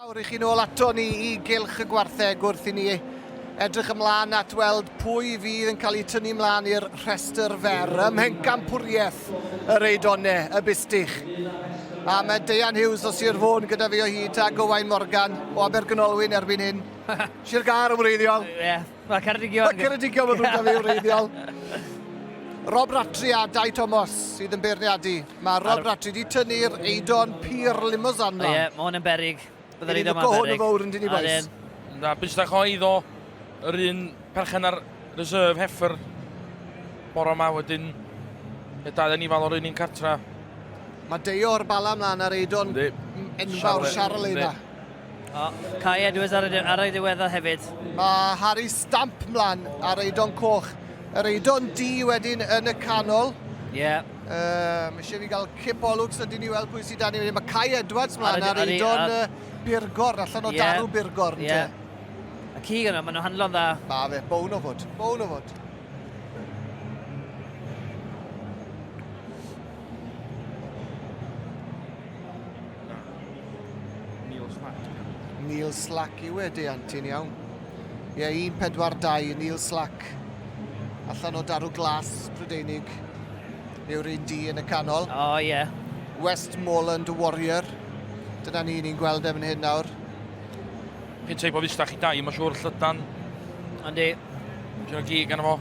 Awn i chi nôl ato ni i gylch y gwartheg wrth i ni edrych ymlaen at weld pwy fydd yn cael ei tynnu ymlaen i'r rhestr fer ym mhencampwriaeth yr Eidone, y Bustich. A mae Deian Hughes o Sir Fôn gyda fi o hyd a Gowain Morgan o Abergynolwyn erbyn hyn. Sir Gâr yn wreiddiol. Ie. Mae Ceredigion... Mae Ceredigion yn ddrwg fi wreiddiol. Rob Ratri a Dai Thomas sydd yn beirniadu. Mae Rob Ar... Ratri wedi tynnu'r eidon pur limousin mlaen. Ie, mae hwn yn berig. Byddai'r eidon ma'n berig. Ni'n hwn yn fawr yn dyn i boes. Na, bysdach o eiddo yr un perchen ar reserve heffer bore yma wedyn y dau yn ifal o'r un un cartra. Mae Deo'r bala mlaen ar eidon enfawr Charles yna. O, Kai Edwards ar, ar ei ddiweddau hefyd. Mae Harry Stamp mlaen ar eidon coch. Yr eidon di wedyn yn y canol. Ie. Yeah. Um, eisiau fi gael cip o lwcs a dyn ni weld pwy sydd dan ni wedyn. Mae Kai Edwards mlaen ar eidon uh, Birgor, allan o yeah. darw Birgor. Ie. Yeah. A cig yna, maen nhw'n handlo'n dda. Ma fe, bown o fod, bown o fod. Neil Slack. Neil Slack yw e, deant ti'n iawn. Ie, 1-4-2, Neil Slack. Allan o darw glas, Prydeinig. Yw'r un di yn y canol. O, oh, ie. Yeah. Westmoreland Warrior. Dyna ni, ni'n gweld e fan hyn nawr. Chi'n teip o fusdach i dai, mae'n siŵr, llydan. Yndi. Mae'n siŵr o gig arno fo.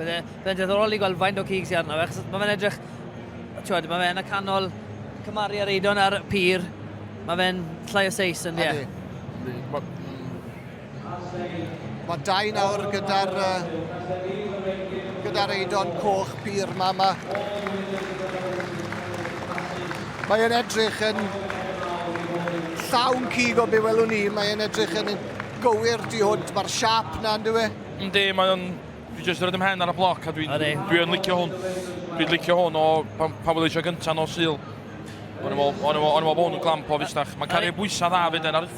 Byddai'n byddai ddiddorol i gweld faint o cig sy'n arno fe, achos mae fe'n edrych... Tiwod, mae fe'n y canol cymaru ar eidon ar pyr. Mae fe'n llai o seis yn ie. Yndi. Yndi. Mae dau nawr gyda'r gyda'r eidon coch pur ma yma. Mae e'n edrych yn llawn cig o be welwn ni, mae e'n edrych yn gywir tu hwnt, mae'r siap na yn dywe? Yndi, mae o'n... Dwi jyst yn rhaid ymhen ar y bloc a dwi'n dwi yn licio hwn. Dwi'n licio hwn o pan, pan wedi eisiau gyntaf nos syl. O'n i'n meddwl, o'n i'n meddwl, o'n i'n meddwl bod hwn yn glamp o fusnach. Mae'n cario bwysau dda fyd e'n aruthrol.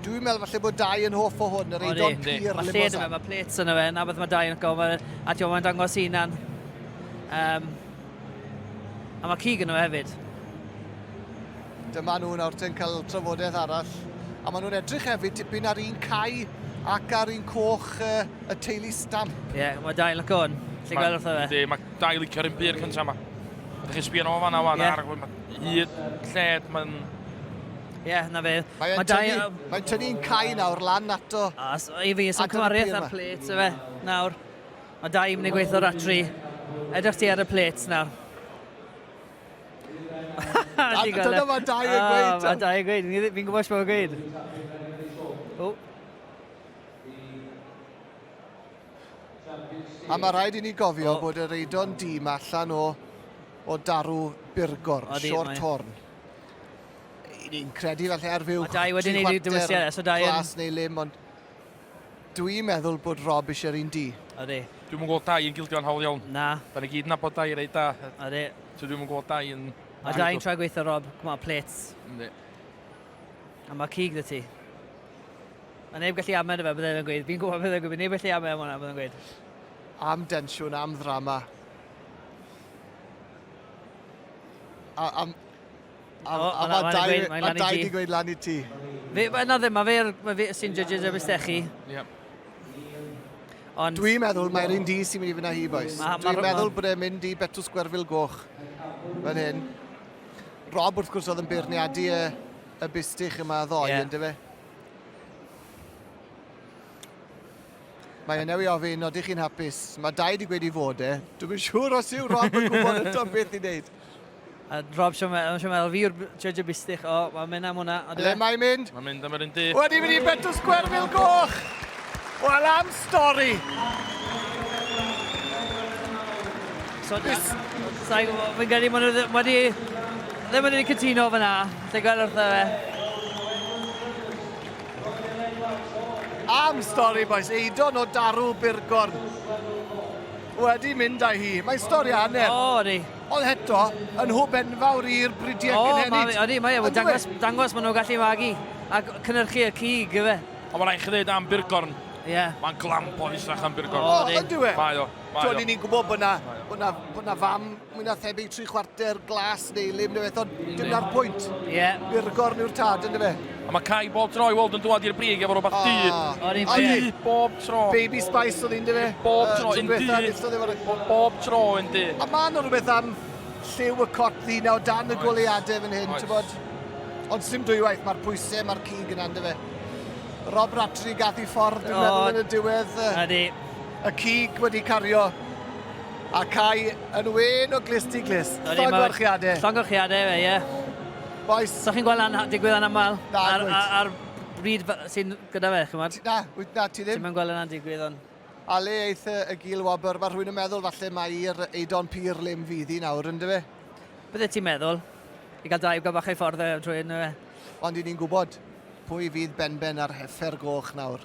Dwi'n meddwl falle bod dau yn hoff o hwn, yr eidon pur limousin. Mae lled yma, mae plates yna fe, na beth mae dau yn go, a ti'n mae'n dangos hunan. Um, a mae cig yna fe hefyd. Dyma nhw nawr te'n cael trafodaeth arall. A maen nhw'n edrych hefyd tipyn ar un cae ac ar un coch uh, y teulu stamp. Ie, yeah, mae dau yn lyco hwn. Ti'n gweld wrtho fe? Mae dau licio'r un pur cyntaf yma. Ydych chi'n sbio nhw fanna wan yeah. ar y Hyd lled mae'n... Ie, yeah, na fe. Mae'n tynnu, mae tynnu'n cael nawr lan ato. A, i fi, sy'n cymariaeth ar plate, efe, nawr. Mae da i mynd gweithio ar tri. Edrych ti ar y plate nawr. Dyna mae da i'n gweud. Mae da i'n gweud, fi'n gwybod sy'n gweud. O. A mae rhaid i ni gofio oh. bod yr eidon dîm allan o, o darw burgor, short mae... horn. Ni'n credu falle ar fyw tri chwarter so glas neu lim, ond dwi'n meddwl bod Rob eisiau'r un di. Ydy. Dwi'n mwyn gweld dau yn gildio'n hawl iawn. Na. Da ni gyd nabod dau rei da. Ydy. So dwi'n mwyn gweld dau yn... A dau yn trai gweithio, Rob. Come on, plates. Ydy. A mae cig dy ti. Mae neb gallu amen fe, byddai fe'n gweud. Fi'n gwybod beth yn gwybod, neb gallu amen hwnna, byddai'n gweud. Am densiwn, am ddrama. A, am, a, oh, a mae dau, mae dau di gweud lan i ti. Fe, mae yna ddim, mae fe, mae fe sy'n judges y bistechi. Yep. Ond... Dwi'n meddwl mae'r un di sy'n mynd i fyna hi, boys. Dwi'n meddwl bod e'n mynd i Betws Gwerfil Goch. Fan hyn. Rob, wrth gwrs, oedd yn beirniadu y y bistych yma ddoe, yeah. ynddo fe? Mae yna ei ofyn, oeddech chi'n hapus? Mae dau wedi gweud i fod e. Dwi'n siŵr os yw Rob yn gwybod y to beth i wneud. A Rob, siwm meddwl fi yw'r judge y bistych. O, mae'n mynd am hwnna. Le mae'n mynd? Mae'n mynd am yr un dydd. Wedi mynd i Betws Gwerfil Goch! Wel am stori! So, fi'n gyrru, maen nhw wedi... Ddim wedi cytuno fyna. Ti'n gweld wrtho fe? Am stori, boys. Eidon o Darw Burgorn. Wedi mynd â hi. Mae'n stori hanner. O, ydy. Ond heto, yn hwb enfawr i'r bridiau oh, cynhenid. O, ydy, mae e. Dangos, dangos maen nhw'n gallu magu. A cynnyrchu y cig, efe. Ond mae'n rhaid chi ddweud am Burgorn. Ie. Yeah. Mae'n glamp o fusach am Burgorn. O, ydy we. Mae o. Mae o. Dwi'n ni'n gwybod bod na, bod na, bod na fam mwy na thebyg tri chwarter glas neu lim neu beth, ond dim na'r pwynt. Ie. Yeah. I'r gorn yw'r tad, ynddo fe. A mae Cai bob tro i weld yn dwad i'r brig efo rhywbeth du. O'r un du, bob tro. Baby Spice oedd un, dy fe? Bob tro, yn du. Bob tro, yn du. A mae yna rhywbeth am lliw y cot ddina o dan y goleadau fan hyn, ti'n bod? Ond sy'n dwywaith, mae'r pwysau, mae'r cig yna, dy fe? Rob Ratri gath i ffordd, dwi'n meddwl, yn y diwedd. Ydy. Y cig wedi cario Ac ai yn wên o glust i glust? Llongyfarchiadau. Llongyfarchiadau, ie, ie. Bois. Dych chi'n gweld hynna'n ha- digwydd anaml? Na, Ar, wyt. ar, ar bryd fe- sy'n gyda fe, chymod? Na, wyt, na, ti ddim. Ti'm yn gweld hynna'n digwydd, ond... A le eith y, y gul wobr? Mae rhywun yn meddwl falle mai'r eidon pur lim fydd hi nawr, ynddo fe? Bydde ti'n meddwl. I gael drive go bach ei ffordd e, trwy ynddo fe. Ond i ni'n gwybod pwy fydd benben ar heffer goch nawr.